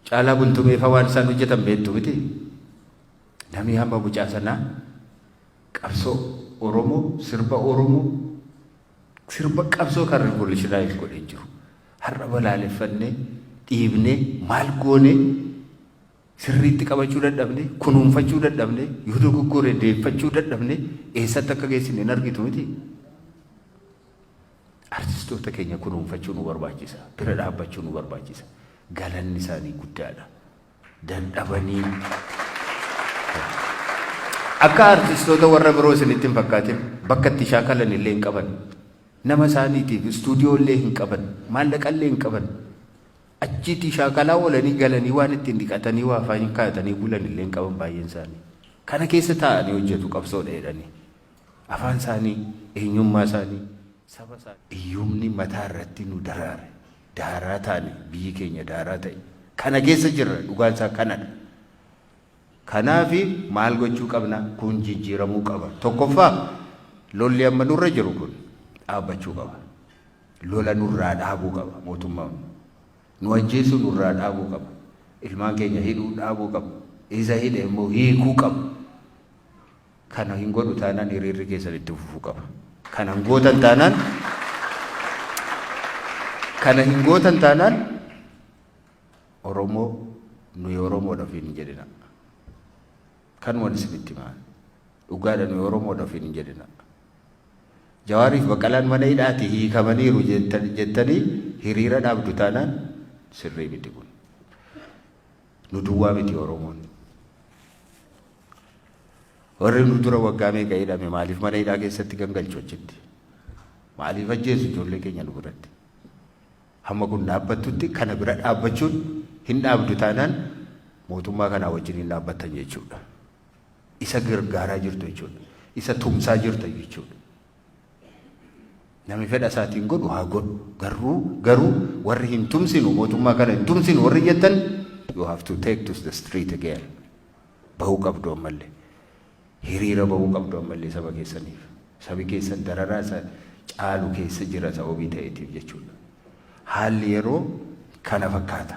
Caalaa bultumee faa waan isaan hojjetan beektu miti. Namni hamma mucaa sanaa qabsoo Oromoo, sirba Oromoo, sirba qabsoo kan rivolishinaayiz godhee jiru. Har'a balaaleffannee, dhiibnee, maal goonee sirriitti qabachuu dadhabne, kunuunfachuu dadhabne, yoo dogoggore deeffachuu dadhabne eessatti akka geessine hin argitu miti. Artistoota keenya kunuunfachuu nu barbaachisa. Bira dhaabbachuu nu barbaachisa. Galanni isaanii guddaadha. Dandhabanii akka artistoota warra biroo isinitti hin fakkaatin bakka itti shaakalan illee hin qaban. Nama isaaniitiif istuudiyoo illee hin qaban. Maallaqa illee hin qaban. Achiitii shaakalaa oolanii galanii waan ittiin dhiqatanii waa faayinkaatanii bulan illee hin qaban baay'een isaanii. Kana keessa taa'anii hojjetu qabsoodha jedhanii. Afaan isaanii, eenyummaa isaanii, saba isaanii. Hiyyumni mataa irratti nu daraare. Daaraa taane, biyyi keenya daaraa ta'e. Kana keessa jirra, dhugaan isaa kanadha. Kanaaf maal gochuu qabna? Kun jijjiiramuu qaba. Tokkoffaa lolli amma nurra jiru kun dhaabbachuu qaba. Lola nurraa dhaabuu qaba mootummaan. Nu ajjeesuu nurraa dhaabuu qaba. Ilmaan keenya hidhuu dhaabuu qaba. Isa hidhe immoo hiikuu qaba. Kana hin godhu taanaan hiriirri keessan itti fufuu qaba. Kana hin gootan taanaan kana hin gootan taanaan Oromoo nuyi Oromoodha ofiin hin jedhina. Kan wal isinitti himaa. Dhugaadha nuyi Oromoodha ofiin hin jedhina. Jawaariif Baqqalaan mana hidhaati hiikamaniiru jettan- jettanii hiriira dhaabdu taanaan sirrii miti kun. Nu duwwaa miti Oromoon. Warri nu dura waggaa meeqa hidhame maaliif mana hidhaa keessatti gangalchu achitti? Maaliif ajjeesu ijoollee keenya nu biratti? Hamma kun dhaabbattutti kana bira dhaabbachuun hin dhaabdu taanaan mootummaa kanaa wajjin hin dhaabbattan jechuudha. Isa gargaaraa jirtu jechuudha. Isa tumsaa jirta jechuudha. Nami fedha isaatiin godhu haa godhu. Garuu garuu warri hin tumsinu mootummaa kana hin tumsinu warri jettan you have to take to the street again. Bahuu qabdu ammalle. Hiriira bahuu qabdu ammalle saba keessaniif. Sabi keessan dararaa isa caalu keessa jira sababii ta'eetiif jechuudha. Haalli yeroo kana fakkaata.